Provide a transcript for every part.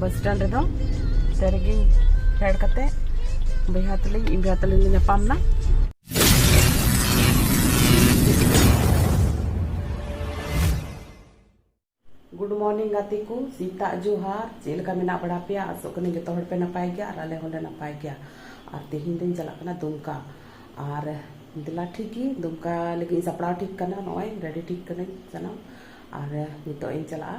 ᱵᱟᱥ stand ᱨᱮᱫᱚ ᱥᱮ ᱨᱮᱜᱮ ᱯᱷᱮᱰ ᱠᱟᱛᱮ ᱵᱚᱭᱦᱟ ᱛᱟᱹᱞᱤᱧ ᱤᱧ ᱵᱚᱭᱦᱟ ᱛᱟᱹᱞᱤᱧ ᱞᱮ ᱧᱟᱯᱟᱢ ᱮᱱᱟ ᱜᱩᱰ ᱢᱚᱨᱱᱤᱝ ᱜᱟᱛᱮ ᱠᱚ ᱥᱮᱛᱟᱜ ᱡᱚᱦᱟᱨ ᱪᱮᱫ ᱞᱮᱠᱟ ᱢᱮᱱᱟᱜ ᱵᱟᱲᱟ ᱯᱮᱭᱟ ᱟᱥᱚᱜ ᱠᱟᱹᱱᱟᱹᱧ ᱡᱚᱛᱚ ᱦᱚᱲ ᱯᱮ ᱱᱟᱯᱟᱭ ᱜᱮᱭᱟ ᱟᱨ ᱟᱞᱮ ᱦᱚᱸᱞᱮ ᱱᱟᱯᱟᱭ ᱜᱮᱭᱟ ᱟᱨ ᱛᱮᱦᱮᱧ ᱫᱚᱧ ᱪᱟᱞᱟᱜ ᱠᱟᱱᱟ ᱫᱩᱢᱠᱟ ᱟᱨ ᱫᱮᱞᱟ ᱴᱷᱤᱠ ᱜᱮ ᱫᱩᱢᱠᱟ ᱞᱟᱹᱜᱤᱫ ᱥᱟᱯᱲᱟᱣ ᱴᱷᱤᱠ ᱠᱟᱱᱟ ᱱᱚᱜᱼᱚᱭ ᱨᱮᱰᱤ ᱴᱷᱤᱠ ᱠᱟᱹᱱᱟᱹᱧ ᱥᱟᱱᱟᱢ ᱟᱨ ᱱᱤᱛᱚᱜ ᱤᱧ ᱪᱟᱞᱟᱜᱼᱟ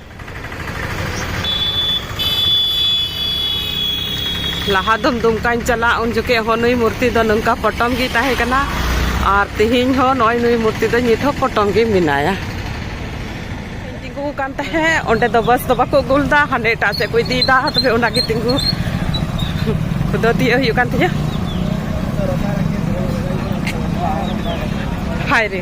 ᱞᱟᱦᱟ ᱫᱚᱢ ᱫᱩᱢᱠᱟᱧ ᱪᱟᱞᱟᱜ ᱩᱱ ᱡᱚᱠᱷᱮᱡ ᱦᱚᱸ ᱱᱩᱭ ᱢᱩᱨᱛᱤ ᱫᱚ ᱱᱚᱝᱠᱟ ᱯᱚᱴᱚᱢ ᱜᱮ ᱛᱟᱦᱮᱸ ᱠᱟᱱᱟ ᱟᱨ ᱛᱮᱦᱮᱧ ᱦᱚᱸ ᱱᱚᱜᱼᱚᱭ ᱱᱩᱭ ᱢᱩᱨᱛᱤ ᱫᱚ ᱱᱤᱛ ᱦᱚᱸ ᱯᱚᱴᱚᱢ ᱜᱮ ᱢᱮᱱᱟᱭᱟ ᱛᱤᱸᱜᱩ ᱠᱟᱱ ᱛᱟᱦᱮᱸᱫ ᱚᱸᱰᱮ ᱫᱚ ᱵᱟᱥ ᱫᱚ ᱵᱟᱠᱚ ᱟᱹᱜᱩ ᱞᱮᱫᱟ ᱦᱟᱸᱰᱮ ᱮᱴᱟᱜ ᱥᱮᱫ ᱠᱚ ᱤᱫᱤᱭᱮᱫᱟ ᱛᱚᱵᱮ ᱚᱱᱟᱜᱮ ᱛᱤᱸᱜᱩ ᱠᱚᱫᱚ ᱛᱤᱭᱟᱹᱜ ᱦᱩᱭᱩᱜ ᱠᱟᱱ ᱛᱤᱧᱟᱹ ᱦᱟᱭ ᱨᱮ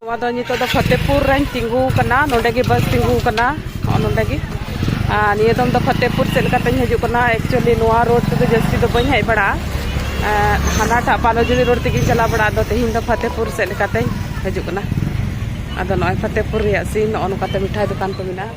ᱱᱚᱣᱟ ᱫᱚ ᱱᱤᱛᱚᱜ ᱫᱚ ᱯᱷᱚᱛᱮᱯᱩᱨ ᱨᱮᱧ ᱛᱤᱸᱜᱩ ᱠᱟᱱᱟ ᱱᱚᱰᱮ ᱜᱮ ᱵᱟᱥ ᱛᱤᱸᱜᱩ ᱠᱟᱱᱟ ᱱᱚᱰᱮ ᱜᱮ ᱟᱨ ᱱᱤᱭᱟᱹ ᱫᱚᱢ ᱫᱚ ᱯᱷᱚᱛᱮᱯᱩᱨ ᱪᱮᱫ ᱞᱮᱠᱟᱛᱮᱧ ᱦᱤᱡᱩᱜ ᱠᱟᱱᱟ ᱮᱠᱪᱩᱭᱮᱞᱤ ᱱᱚᱣᱟ ᱨᱳᱰ ᱛᱮᱫᱚ ᱡᱟᱹᱥᱛᱤ ᱫᱚ ᱵᱟᱹᱧ ᱦᱮᱡ ᱵᱟᱲᱟᱜᱼᱟ ᱦᱟᱱᱟᱴᱟᱜ ᱵᱟᱞᱚᱡᱩᱲᱤ ᱨᱳᱰ ᱛᱮᱜᱮᱧ ᱪᱟᱞᱟᱣ ᱵᱟᱲᱟᱜ ᱟᱫᱚ ᱛᱮᱦᱮᱧ ᱫᱚ ᱯᱷᱚᱛᱮᱯᱩᱨ ᱪᱮᱫ ᱞᱮᱠᱟᱛᱮᱧ ᱦᱤᱡᱩᱜ ᱠᱟᱱᱟ ᱟᱫᱚ ᱱᱚᱜᱼᱚᱭ ᱯᱷᱚᱛᱮᱯᱩᱨ ᱨᱮᱭᱟᱜ ᱥᱤᱱ ᱱᱚᱜᱼᱚ ᱱᱚᱝᱠᱟᱛᱮ ᱢᱤᱴᱷᱟᱭ ᱫᱚᱠᱟᱱ ᱠᱚ ᱢᱮᱱᱟᱜᱼᱟ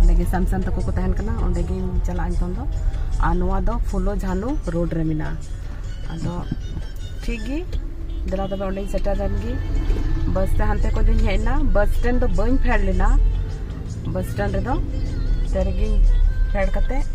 ᱚᱸᱰᱮ ᱜᱮ ᱥᱟᱢᱥᱟᱱ ᱛᱟᱠᱚ ᱠᱚ ᱛᱟᱦᱮᱱ ᱠᱟᱱᱟ ᱚᱸᱰᱮ ᱜᱤᱧ ᱪᱟᱞᱟᱜᱼᱟ ᱱᱤᱛᱚᱝ ᱫᱚ ᱟᱨ ᱱᱚᱣᱟ ᱫᱚ ᱯᱷᱩᱞᱳ ᱡᱷᱟᱱᱩ ᱨᱳᱰ ᱨᱮ ᱢᱮᱱᱟᱜᱼᱟ ᱟᱫᱚ ᱴᱷᱤᱠ ᱜᱮ ᱫᱮᱞᱟ ᱛᱚᱵᱮ ᱚᱸᱰᱮᱧ ᱥᱮᱴᱮᱨᱮᱱ ᱜᱮ ᱵᱟᱥ ᱛᱮ ᱦᱟᱱᱛᱮ ᱠᱷᱚᱱ ᱫᱚᱧ ᱦᱮᱡ ᱮᱱᱟ ᱵᱟᱥ ᱥᱴᱮᱱᱰ ᱫᱚ ᱵᱟᱹᱧ ᱯᱷᱮᱰ ᱞᱮᱱᱟ ᱵᱟᱥ ᱥᱴᱮᱱᱰ ᱨᱮᱫᱚ ᱛᱮᱨᱮᱜᱤᱧ ᱯᱷᱮᱰ ᱠᱟᱛᱮᱫ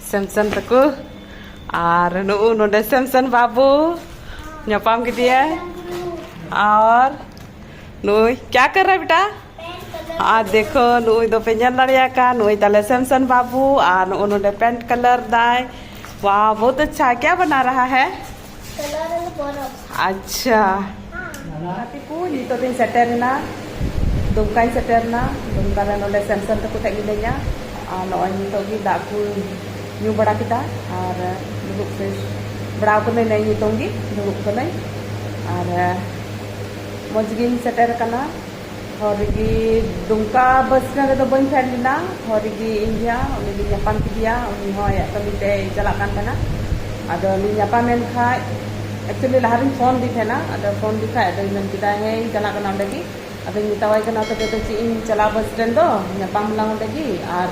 ᱥᱮᱢᱥᱚᱱ ᱛᱟᱠᱚ ᱟᱨ ᱱᱩᱜᱩ ᱱᱚᱰᱮ ᱥᱮᱢᱥᱚᱱ ᱵᱟᱹᱵᱩ ᱧᱟᱯᱟᱢ ᱠᱮᱫᱮᱭᱟ ᱟᱨ ᱱᱩᱭ ᱠᱭᱟ ᱠᱟᱨ ᱨᱟ ᱵᱮᱴᱟ ᱟᱨ ᱫᱮᱠᱷᱚ ᱱᱩᱭ ᱫᱚ ᱯᱮ ᱧᱮᱞ ᱫᱟᱲᱮᱭᱟ ᱠᱟ ᱱᱩᱭ ᱛᱟᱞᱮ ᱥᱮᱢᱥᱚᱱ ᱵᱟᱹᱵᱩ ᱟᱨ ᱱᱩᱜᱩ ᱱᱚᱰᱮ ᱯᱮᱱᱴ ᱠᱟᱞᱟᱨ ᱫᱟᱭ ᱣᱟᱣ ᱵᱚᱦᱩᱛ ᱟᱪᱪᱷᱟ ᱠᱭᱟ ᱵᱟᱱᱟ ᱨᱟᱦᱟ ᱦᱮ ᱟᱪᱪᱷᱟ ᱜᱟᱛᱮ ᱠᱚ ᱱᱤᱛᱚᱜ ᱫᱚᱧ ᱥᱮᱴᱮᱨᱮᱱᱟ ᱫᱩᱢᱠᱟᱧ ᱥᱮᱴᱮᱨᱮᱱᱟ ᱫᱩᱢᱠᱟ ᱨᱮ ᱱᱚᱰᱮ ᱥᱮᱢᱥᱚᱱ ᱛᱟᱠᱚ ᱴᱷᱮᱡ ᱢᱤᱱᱟᱹᱧᱟ ᱟᱨ ᱱᱚᱜᱼᱚᱭ ᱱᱤᱛᱚᱜ ᱜᱮ ᱫᱟᱜ ᱠᱚ ᱧᱩ ᱵᱟᱲᱟ ᱠᱮᱫᱟ ᱟᱨ ᱫᱩᱲᱩᱵ ᱯᱷᱨᱮᱥ ᱵᱟᱲᱟ ᱠᱟᱹᱱᱟᱹᱧ ᱱᱮᱜᱼᱮ ᱱᱤᱛᱚᱝ ᱜᱮ ᱫᱩᱲᱩᱵ ᱠᱟᱹᱱᱟᱹᱧ ᱟᱨ ᱢᱚᱡᱽ ᱜᱤᱧ ᱥᱮᱴᱮᱨ ᱠᱟᱱᱟ ᱦᱚᱨ ᱨᱮᱜᱮ ᱫᱩᱢᱠᱟ ᱵᱟᱥ ᱥᱴᱮᱱᱰ ᱨᱮᱫᱚ ᱵᱟᱹᱧ ᱯᱷᱮᱰ ᱞᱮᱱᱟ ᱦᱚᱨ ᱨᱮᱜᱮ ᱤᱧ ᱵᱷᱟᱭᱟ ᱩᱱᱤ ᱫᱚᱧ ᱧᱟᱯᱟᱢ ᱠᱮᱫᱮᱭᱟ ᱩᱱᱤ ᱦᱚᱸ ᱟᱭᱟᱜ ᱠᱟᱹᱢᱤ ᱛᱮᱭ ᱪᱟᱞᱟᱜ ᱠᱟᱱ ᱛᱟᱦᱮᱱᱟ ᱟᱫᱚ ᱞᱤᱧ ᱧᱟᱯᱟᱢᱮᱱ ᱠᱷᱟᱡ ᱮᱠᱪᱩᱭᱮᱞᱤ ᱞᱟᱦᱟ ᱨᱤᱧ ᱯᱷᱳᱱ ᱟᱫᱮ ᱛᱟᱦᱮᱱᱟ ᱟᱫᱚ ᱯᱷᱳᱱ ᱟᱫᱮ ᱠᱷᱟᱡ ᱟᱫᱚᱭ ᱢᱮᱱ ᱠᱮᱫᱟ ᱦᱮᱸ ᱤᱧ ᱪᱟᱞᱟᱜ ᱠᱟᱱᱟ ᱚᱸᱰᱮ ᱜᱮ ᱟᱫᱚᱧ ᱢᱮᱛᱟᱣᱟᱭ ᱠᱟᱱᱟ ᱛᱚᱵᱮ ᱫᱚ ᱪᱮᱫ ᱤᱧ ᱪᱟᱞᱟᱜᱼᱟ ᱵᱟᱥ ᱥᱴᱮᱱᱰ ᱫᱚ ᱧᱟᱯᱟᱢ ᱟᱞᱟᱝ ᱚᱸᱰᱮ ᱜᱮ ᱟᱨ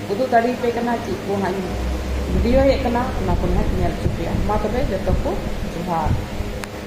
ᱩᱫᱩᱜ ᱫᱟᱲᱮ ᱟᱯᱮ ᱠᱟᱱᱟ ᱪᱮᱫ ᱠᱚ ᱦᱟᱸᱜ ᱤᱧ ᱵᱷᱤᱰᱤᱭᱳᱭᱮᱫ ᱠᱟᱱᱟ ᱚᱱᱟ ᱠᱚ ᱦᱟᱸᱜ ᱤᱧ ᱧᱮᱞ ᱦᱚᱪᱚ ᱯᱮᱭᱟ ᱢᱟ ᱛᱚᱵᱮ ᱡᱚᱛᱚ ᱠᱚ ᱡᱚᱦᱟᱨ